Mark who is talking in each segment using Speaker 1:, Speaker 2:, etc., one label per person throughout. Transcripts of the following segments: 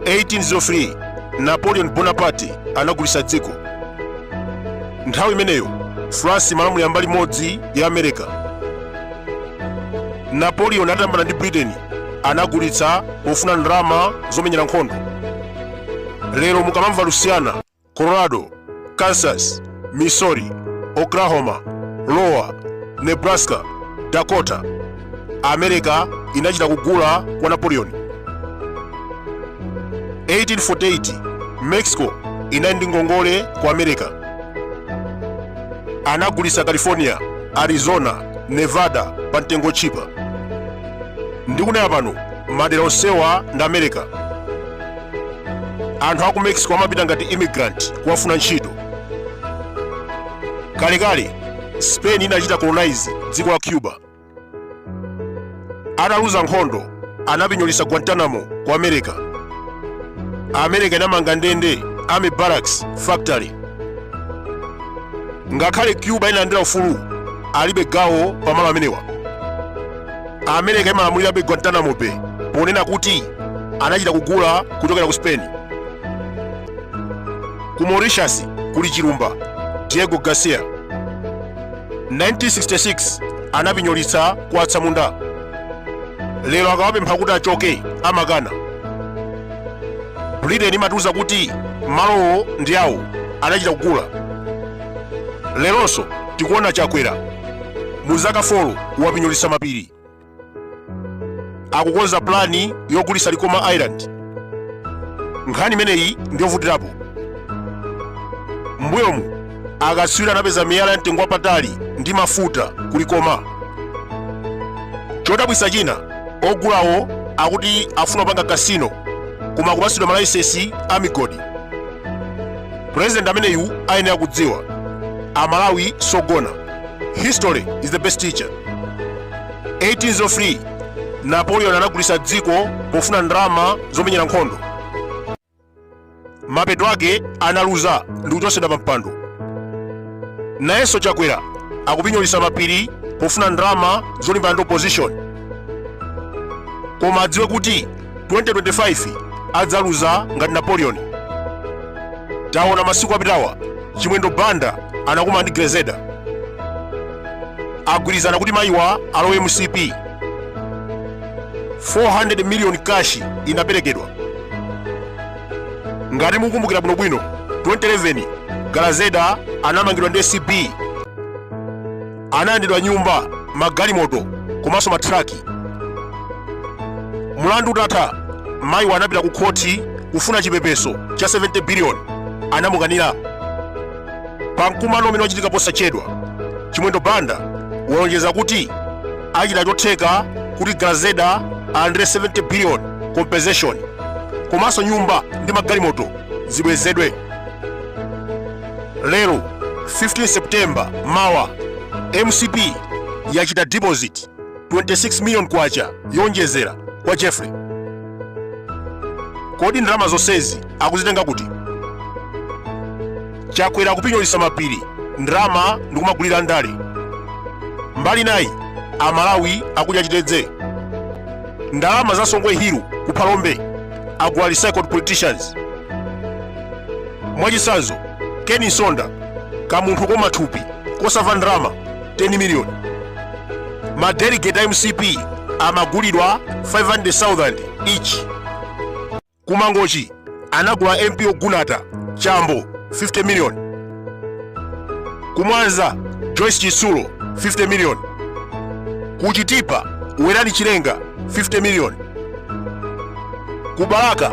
Speaker 1: 1803 napoleon bonaparte anagulitsa dziko nthawi imeneyo france imalamulira mbali imodzi ya america napoleon atayambana ndi britain anagulitsa pofuna ndalama zomenyera nkhondo lero mukamamva louisiana colorado kansas missouri oklahoma lowa nebraska dakota america inachita kugula kwa napoleon 1848 mexico inali ndi ngongole kwa america anagulitsa california arizona nevada pa mtengo tchipa ndikunena pano madera onsewa ndi america anthu aku mexico amapita ngati immigrant kukafuna ntchito kalekale spain inachita colonize dziko la cuba ataluza nkhondo anapinyolitsa guantanamo kwa america america inamanga ndende army barracks factory ngakhale cuba inalandira ufulu alibe gawo pamalo amenewa america imalamulirabe guantanamo bay ponena kuti anachita kugula kuchokera ku spain ku mauritius kuli chilumba diego garcia 1966 anapinyolitsa kwa atsamunda lero akawapempha kuti achoke amakana britain imatiuza kuti malowo ndi awo anachita kugula leronso tikuona chakwera mu zaka 4 wapinyolitsa mapiri akukonza pulani yogulitsa likoma island nkhani imeneyi ndiyovutirapo mbuyomu akatswiri anapeza miyala ya mtengo wapatali ndi mafuta ku likoma chodabwitsa china ogulawo akuti afuna kupanga kasino koma akupatsidwa malaisensi a migodi purezidenti ameneyu ayenera kudziwa amalawi sogona history is the best teacher 1803 napoleon anagulisa dziko pofuna ndalama zomenyera nkhondo mapeto ake analuza ndi kuchotsedwa pa mpando nayenso chakwera akupinyolisa mapiri pofuna ndalama zolimbana ndi opposition koma adziwe kuti 2025 adzaluza ngati Napoleon taona masiku apitawa Chimwendo Banda anakumana ndi Grezelder agwirizana kuti mayiwa alowe MCP 400 million cash inaperekedwa ngati mukumbukira bwinobwino 2011 Grezelder anamangidwa ndi ACB analandidwa nyumba magalimoto komanso matraki mlandu utatha mayiwa anapita ku khoti kufuna chipepeso cha 70 biliyoni anamukanira pa mkumano umene wachitika posachedwa Chimwendo Banda walonjeza kuti achita chotheka kuti Grezelder alandire 70 biliyoni compensation komanso nyumba ndi magalimoto zibwezedwe lero 15 September mawa MCP yachita deposit 26 million kwacha yonjezera kwa Jeffrey kodi ndalama zonsezi akuzitenga kuti Chakwera kupinyolitsa mapiri ndalama ndikumagulira ndale mbali nayi aMalawi akudya chitedze ndalama za Songwe Hill ku Phalombe agula recycled politicians mwachitsanzo Ken Msonda kamunthu koma thupi kosamva ndalama 10 miliyoni madelegate a MCP amagulidwa 500,000 each ku Mangochi anagula MP ogunata Chambo 50 miliyoni ku Mwanza Joyce Chitsulo 50 miliyoni ku Chitipa Werani Chilenga 50 miliyoni ku Balaka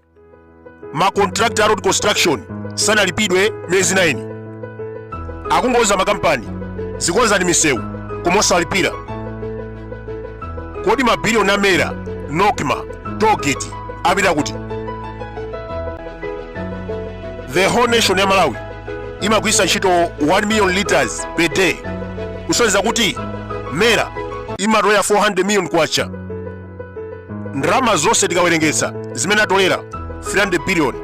Speaker 1: ma contractor a road construction sanalipidwe miyezi 9 akungouza makampani zikonzani misewu koma osalipira kodi mabiliyoni a MERA NOCMA tollgate apita kuti the whole nation ya Malawi imagwiritsa ntchito 1 million liters per day kusonyeza kuti MERA imatolera 400 million kwacha ndalama zonse tikawerengetsa zimene atolera 300 billion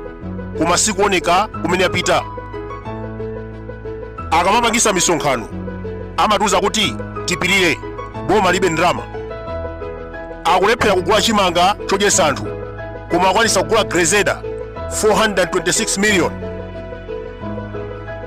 Speaker 1: koma sikuoneka kumene apita akamapangisa misonkhano amatiuza kuti tipirire boma lilibe ndalama akulephera kugula chimanga chodyesa anthu koma akwanitsa kugula Grezelder 426 million